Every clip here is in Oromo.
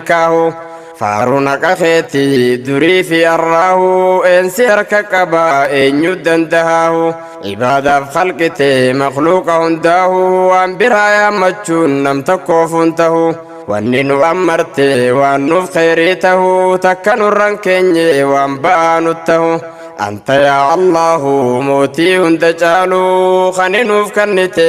kaahu Faaruun haqa keeti durii fi arraahu Eensi harka qaba eenyu dandahaahu Ibaadaaf khalqite makhluuqa hundaahu Waan biraa yaammachuun nam tokkoof hun tahu Wanni nu ammarte waan nuuf kheyrii tahu Takka nurran keenye waan ba'aa nut tahu Anta yaa Allaahu mootii hunda caalu Khani nuuf kannite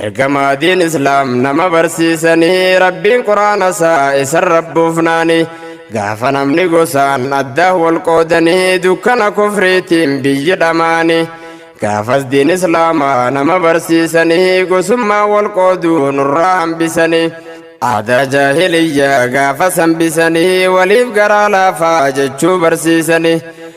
Ergamaa diin islaam nama barsiisanii rabbiin quraana isaa isan rabbuufnaanii gaafa namni gosaan addaah wal qoodanii dukkana kufriitiin biyyi dhamaanii gaafas diin islaamaa nama barsiisanii gosummaa wal qooduu nurraa hambisanii aadaa jaahiliyyaa gaafas hambisanii waliif garaa laafaa jechuu barsiisanii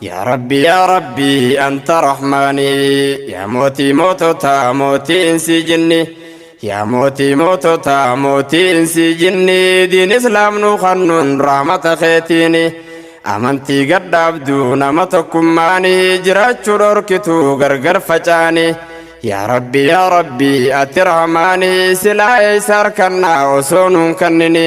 Yaa Rabbii Yaa Rabbii Anta Rahmaani Yaa Mootii Moototaa Mootii Insii Jinni Yaa Mootii Moototaa Mootii Insii Jinni Diin Islaam Nuu Kannuun Rahmata Keetiini Amantii Gadhaabduu Nama Tokkummaani Jiraachuu Dhorkituu Gargar Facaani Yaa Rabbii Yaa Rabbii Ati Rahmaani Silaa Eeysa Arkannaa Osoo Nuun Kannini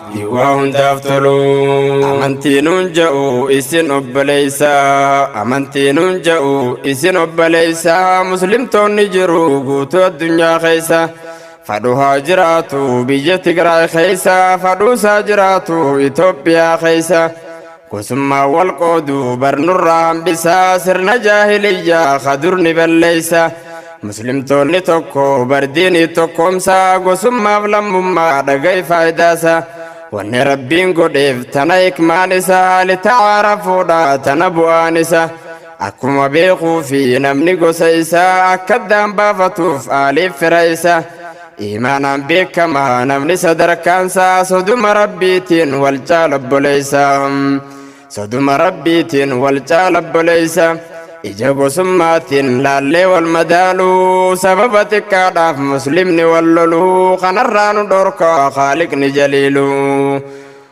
Hiwaa hundaaf toluu. Amantii nuun ja'u isin obboleessa. Amantii nuun ja'u isin obboleessa. Muslimtoonni jiru guutuu addunyaa keessa. Fadhu haa jiraatu biyya Tigraay keessa. Fadhuusaa jiraatu Itoophiyaa keessa. Gosummaan wal qooduu bar nurraa hambisa sirna jaahiliyyaa ka dur ni balleessa. Muslimtoonni tokko bar diinii tokkoomsa gosummaaf lammummaa dhaga'i faayidaasa. Wanni rabbiin godheef tana hikmaan isa litacaarafuudha tana bu'aan isa. Akkuma beekuu fi namni gosa isaa akka addaan baafatuuf aaliif fira isa. Iimaanaan beekama namni sadarkaansaa soduma rabbiitiin wal caala obboleessa soduma rabbiitiin wal caala obboleessa ija gosummaatiin laallee wal madaaluu sababa xiqqaadhaaf muslimni wal loluu kanarraa nu dhorka haaliqni jaliiluu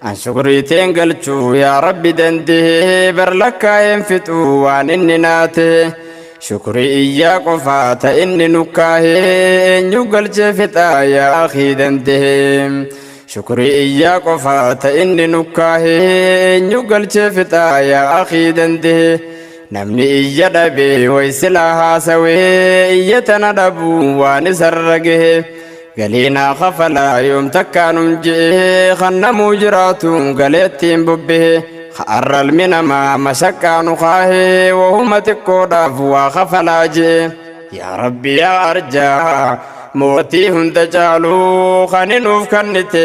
An shukrii teen galchuu yaa rabbi dandee bar lakkaa'een fixuu waan inni naa ta'e shukrii iyyaa qofaa ta inni nukkaahee eenyu galchee fixaa yaa akii dandee shukrii iyyaa qofaa ta inni nukkaahee eenyu galchee fixaa yaa akii dandee namni iyya dhabee way silaa haasawee iyya tana dhabuu waan isarra gahee. Galii naa kafalaa yoom takkaa nun je'ee kan namuu jiraatu galeettiin bobbehee ka arralmi namaa masaqqaa nu kaahee wahuma xiqqoodhaaf waa kafalaa je'e yaa rabbi yaa arjaa mootii hunda caaluu kani nuuf kannite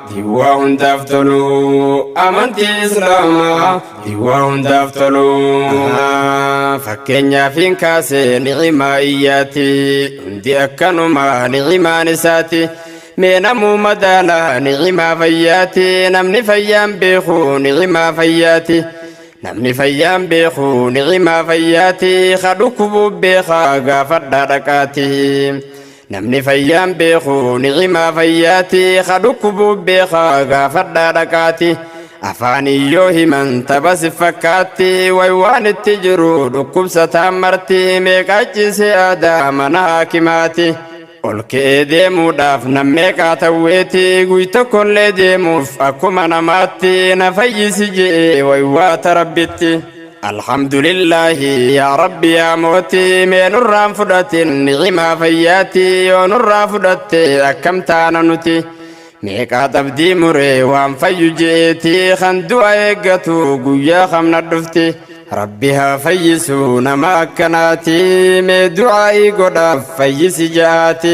Hiwwaa hundaaf tolu amantii islaamaa hiwwaa hundaaf tolu fakkeenyaaf hin kaase nicimaa iyyaati hundi akkanuma nicimaan isaati mee namuu madaala nicimaa fayyaati namni fayyaan beeku nicimaa fayyaati namni fayyaan beeku nicimaa fayyaati ka dhukkubuu beekaa gaafadhaa dhaqaati. Namni fayyaan beeku nicimaa fayyaati Ka dhukkubu beeka gaafadhaa dhaqaati Afaaniin yoo himan tapha si fakkaatti Way waan itti jiru dhukkubsataan marti Meeqaa ciisee aadaa mana haakimaati Ol ka'ee deemuudhaaf nam meeqaa tawweeti Guy tokkollee deemuuf akkuma namaatti Na fayyisi je'ee way waata rabbitti Alhamdulillahi yaa Rabbi yaa mootii mee nurraan fudhatin nicimaa fayyaatii yoo nurraa fudhatte akkam taana nuti meeqaa xabdii muree waan fayyu je'eetii kan du'a eeggatu guyyaa kamna dhufti Rabbi haa fayyisu nama akkanaatii mee du'aa'ii godhaaf fayyisi ja'aati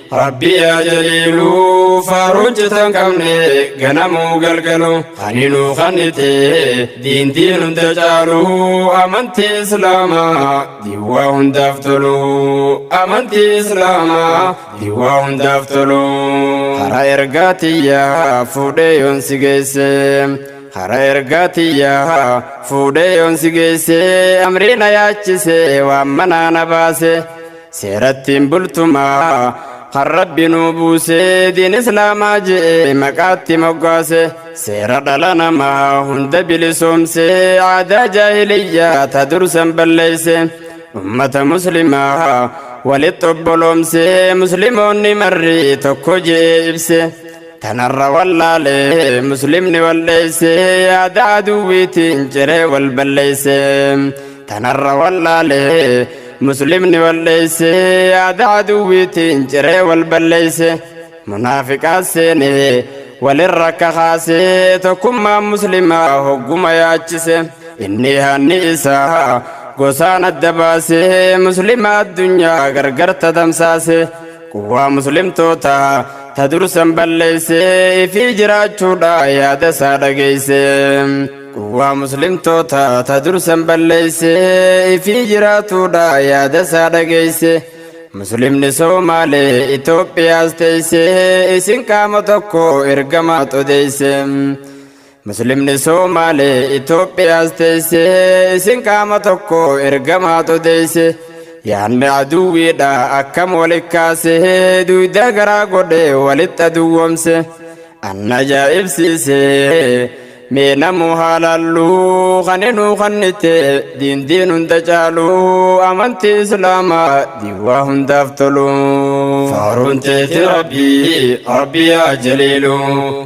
Rabbi yaa jaliilu faaruu hojjetan qabne ganamuu galgalu kani nu kannite diintiin hunda caalu amantii islaamaa diiwaa hundaaf tolu amantii islaamaa diiwaa hundaaf tolu hara ergaa tiyyaa fuudhee yoon si geesse hara ergaa tiyyaa fuudhee yoon si geesse amrii na yaachise waan manaa na baase. Seerattiin bultumaa kan rabbi nuu buusee diin islaamaa je'ee maqaatti moggaase seera dhala namaa hunda bilisoomsee aadaa jaahiliyyaa ta dursan balleeyse ummata muslimaa walitti obboloomsee muslimoonni marri tokko je'ee ibse Tanarra wallaale muslimni walleeyse yaada aduwwiitiin ciree wal balleeyse. Tanarra wallaale muslimni walleeyse yaada aduwwiitiin ciree wal balleeyse. Munaafiqaa seene walirra akka kaase tokkummaa muslimaa hogguma yaachise. Inni hanni isaa gosaan adda baase muslima addunyaa gargar tatamsaase. Quwwaa muslimtootaa ta dursan balleeyse ifii jiraachuudha yaada isaa dhageeyse. Quwwaa muslimtootaa ta dursan balleeyse ifii jiraatuudha yaada isaa dhageeyse. Muslimni Soomaalee Itoophiyaas teeyse isin qaama tokko ergamaa xodeeyse. Muslimni Somaale Itoophiyaas teesse isin qaama tokko ergamaatu deesse yaadni aduwwiidha akkam walitti kaase duudaa garaa godhe walitti aduwwomse anna ajaa'ibsiise mee namuu haalaallu kan inuu kannite diindiin hunda caalu amantii islaamaa diiwaa hundaaf tolu faaruun teeti rabbii rabbii yaa jaliilu.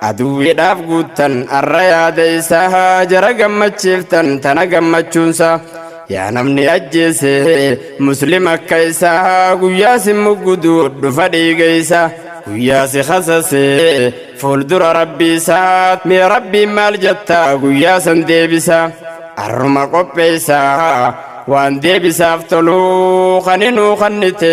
Aduwwiidhaaf guuttan arra yaada isaa jara gammachiiftan tana gammachuunsa yaa namni ajjeese muslim akka isaa guyyaa sin muggudu dhufa dhiiga isaa guyyaa si kasase fuuldura rabbii isaa mee rabbiin maal jetta guyyaa san deebisa arruma qopheessa waan deebisaaf toluu kaninuu kannite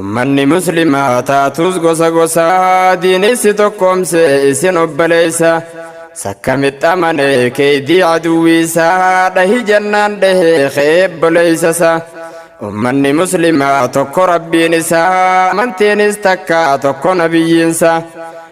Ummanni Muslimaa haa taatus gosa gosaa diini si tokkoomse isin obboleessa. Sakkamitti amanee keeydii aduwwiisaa dhahi jennaan dhahee ka'ee obboleeysasa. Ummanni Muslimaa tokko Rabbiin isaa amantiinis takka tokko nabiyyiinsa.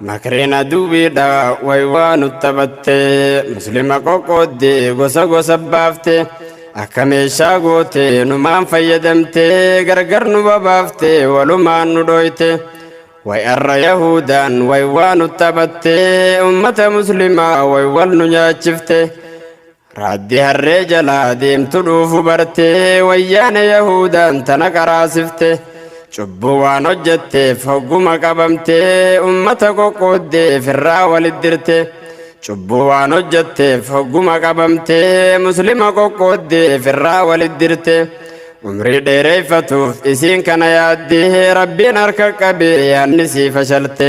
Makreen aduwwiidha way waa nu taphatte muslima qoqqoodde gosa gosa baafte akka meeshaa goote numaan fayyadamte gargar nu babaafte walumaan nu dhooyte way arra yahuudaan way waa nu taphatte ummata muslimaa way wal nu nyaachifte. Raaddi harree jalaa deemtu dhuufu barte, wayyaane Yahuudaan tana qaraasifte. Cubbuu waan hojjetteef hogguma qabamte, ummata qoqqooddee firraa walit dirte. Cubbuu waan hojjetteef hogguma qabamte, Muslima qoqqooddee firraa walit dirte. Umrii dheereeffatuuf isiin kana yaadde, Rabbiin harka qabee yaanni sii fashalte.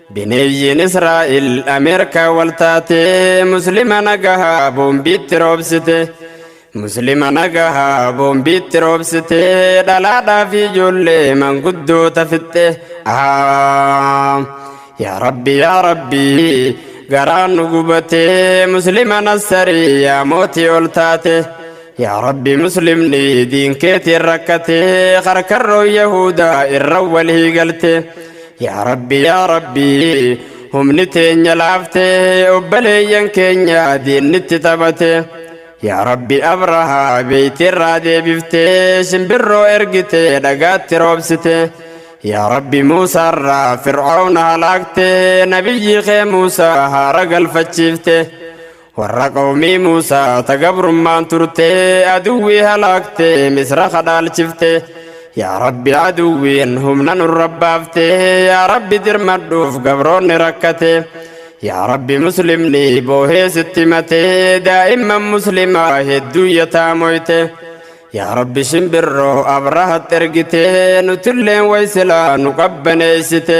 Bineeyyiin Israa'el Ameerikaa wal taatee Muslima nagahaa boombiitti roobsite. Muslima nagahaa boombiitti roobsite dhalaadhaa fi ijoollee manguddoota fixxe. Ahaa! Yaa Rabbi yaa Rabbi garaan nu gubatee Muslima nassarii yaa mootii ol taate. Yaa Rabbi Muslimni diinkeetiin rakkatee karkarroon Yahuudaa irra walii galte. Yaa Rabbi yaa Rabbi humni teenya laafte obbaleeyyan keenya diinnitti taphate yaa Rabbi abrahaa beeytiirraa deebifte simbirroo ergite dhagaatti roobsite yaa Rabbi Muusaarraa fir'aawna halaakte nabiyyii kee Muusaa haara galfachiifte Warra qawmii Muusaa ta gabrummaan turte aduwwii halaakte misra kadhaalchifte yaa rabbi aduwwiin humna nurra baafte yaa rabbi dirmadhuuf gabroonni rakkate yaa rabbi muslimni boohee sitti mate daa'imman muslimaa hedduu yataamoyte yaa rabbi shimbirroo abrahat ergite nutilleen waysilaa nu qabbaneeysite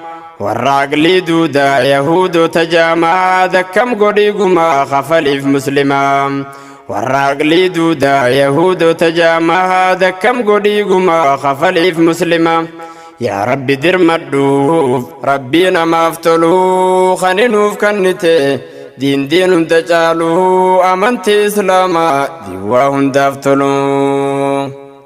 Warraaqni duudaa Yahuudota jaamaa dakkam godhii gumaa kafaliif muslimaa. Warraaqni duudaa Yahuudota jaamaa dakkam godhii gumaa kafaliif muslimaa. Yaa Rabbi dirmadhuuf Rabbii namaaf tolu kan nuuf kennite diindiin hunda caalu amantii Islaamaa diiwaa hundaaf tolu.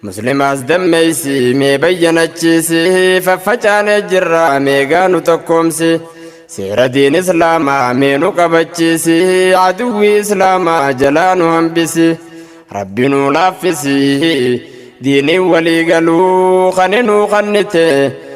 Muslimaas dammeessi mee bayyanachiisi faffacaanee jirra meegaa nu tokkoomsi seera diin islaamaa mee nu qabachiisi aduwwii islaamaa jalaa nu hambisi rabbi nu laaffisi diinii walii galuu kan nu kannite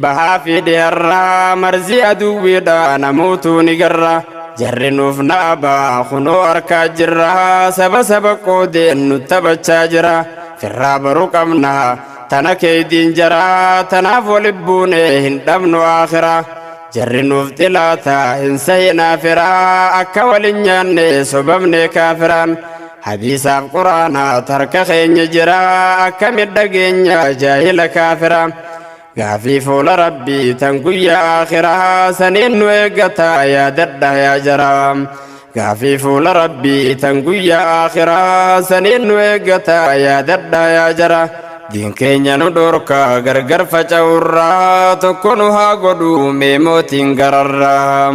Bahaa fi dhiyarraa marzii aduwwiidhaa namootuu ni garra. Jarri nuuf naabaa kunoo harkaa jirra saba saba qoodeen nu taphachaa jira. Firraa baruu qabna tana keeydiin jara tanaaf wali buune hin dhabnu aakhira. Jarri nuuf xilaata hin sahinaa fira akka walin nyaanne sobamne kaafiraan. Hadiisaaf quraana tarka keenya jira akka midhageenya jaahila kaafira. Gaafii fuula rabbii tan guyyaa aakhiraa saniin nu eeggataa yaadadha yaa jaraa. Gaafii fuula rabbii tan guyyaa aakhiraa saniin nu eeggataa yaadadha yaa jara. Diin keenya nu dhorkaa gargar faca'urraa tokko nu haa godhu mee mootiin gararraa.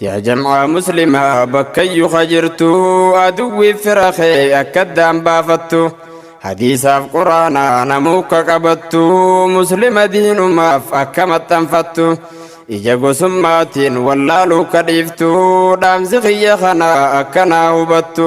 Yaa jam'aa muslimaa bakkayyu ka jirtu aduwwi fira kee akka addaan baafattu hadiisaaf quraana namuu ka qabattu muslima diinumaaf akka maxxanfattu ija gosummaatiin wallaaluu ka dhiiftu dhaamsi kiyya kana akka naa hubattu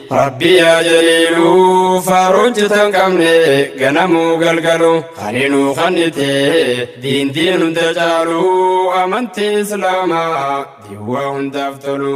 Rabbi yaa jaliilu faaruun citan qabne ganamuu galgalu kani nu kannite diin diin hunda caalu amantii islaamaa diwwaa hundaaf tolu.